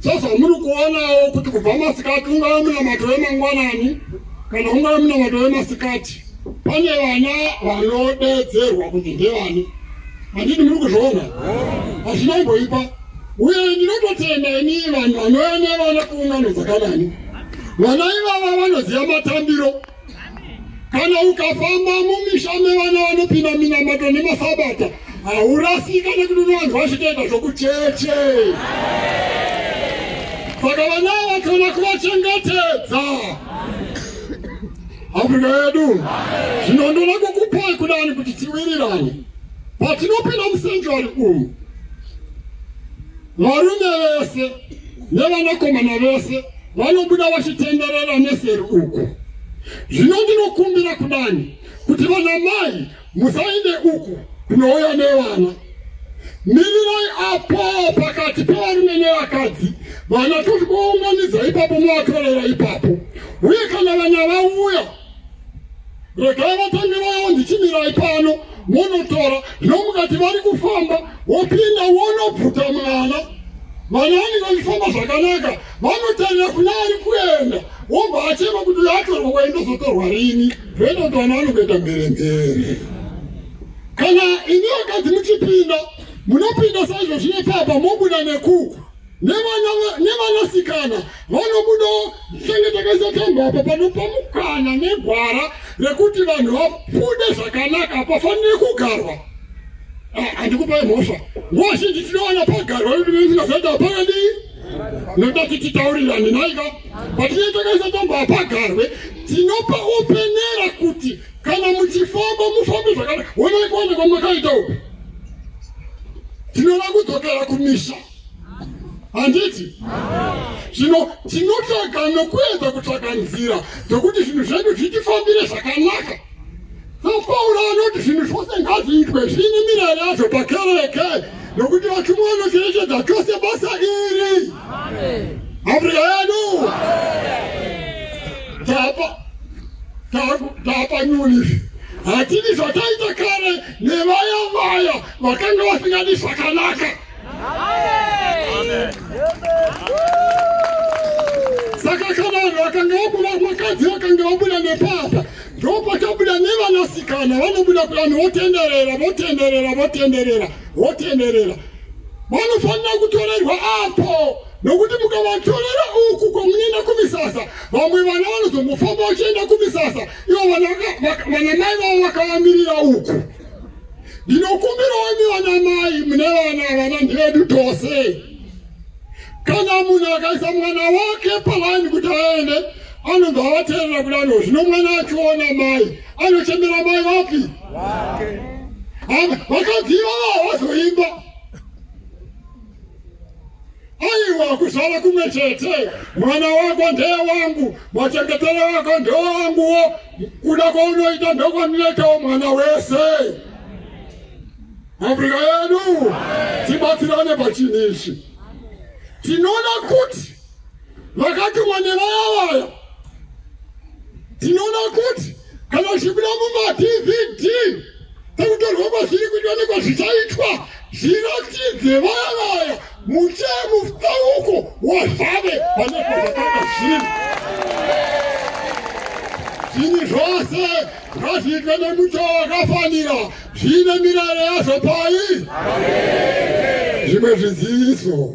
sezvamuri kuonawo kuti kubva masikati ungava munamato wemangwanani kana ungava munamato wemasikati pane vana vanodedzerwa kunzi ndevani handiti muri kuzviona hazvina imboipa uye ndinototenda ini vanhu vanouya nevana kuungano dzakanani vana ivava vanoziva matambiro kana ukafamba mumisha mevana vanopinda minamato nemasabata haurasika nekuti unowanzi vachitoita zvokucheche saka vana vakona kuvachengetedza afrika yedu zvino ndoda kukupai kudani kuti tiwirirane patinopinda musenjuari umu Varume vese nevanakomana vese vanobuda vachitenderera neseri uku. Zvino ndinokumbira kudani kuti vana mai musaende uku kunouya nevana. Mirirai apo pakati pevarume nevakadzi vana toti kuunganidza ipapo movatorera ipapo. Uye kana vana vauya regai vatambi vavo ndichimirai pano monotora nomukati vari kufamba wopinda wonobvuta mwana vana vanenge vachifamba zvakanaka vanotarira kuna ari kuenda wobva achema kuti uyo atorwa kwaindozotorwa rini zvoita kuti vana vanokuenda mbere mbere kana ini vakadzi muchipinda munopinda saizvo zvine papa mobuda nekuku nevanasikana vanobudawo tichenge takaisa tambo apa panopa mukana negwara rekuti vanhu vabude zvakanaka hapafanire kugarwa handikupai mhosva nguva zhinji tinowana pagarwa veduveizinazaita hapana ndii noda kuti titaurirani naika patinee takaisa tambo hapagarwe tinopa openera kuti kana muchifamba mufambe zvakanaka wonai kuwana kwamakaita uku tinoda kudzokera kumisha handiti zvino tinotsvaga nokuedza kutsvaga nzira dzokuti zvinhu zvedu zvitifambire zvakanaka sapauro anoti zvinhu zvose ngazviitwe zviine mirayiro yazvo pakereke nokuti vachumwa vanocherechedza chose basa iri afrika yedu tapa tapa nyulifi hatidi zvataita kare nevaya vaya vakanga vasingadi zvakanaka saka ka vanhu vakanga vabuda vakadzi vakanga vabuda nepapa ndokwakabuda nevanasikana vanobuda kuvanhu votenderera votenderera votenderera votenderera vanofanira kutorerwa apo nokuti mukavatorera uku kwamunoenda kumisasa vamwe vana vanozombofamba vachienda kumisasa ivo vanamai vavo vakavamirira uku ndinokumbirawo imi vana mai mune vana vana ndivedu tose kana munhu akaisa mwana wake palaini kuti aende anobva avateerera kudano zvino mwana achiona mai anochemera mai vapi vakadziva vavazoimba aiwa kuzvara kumwe chete mwana wako ndeye wangu machengetero wako ndewanguwo kuda kwaunoita ndokwandinoitawo mwana wese afrika yedu tibatsirane pachini ichi tinoona kuti vakatumwa nevaya vaya tinoona kuti kana uchipinda mumadvd tekutorwa kwazviri kuitwa nekwazvichaitwa zviratidze vaya vaya muchee mufauko wazvave vanezvazvakanga zvinhu zvinhu zvose ngazviitwe nemuto wakafanira zviine mirayiro yazvo pai zvimwe zviziviso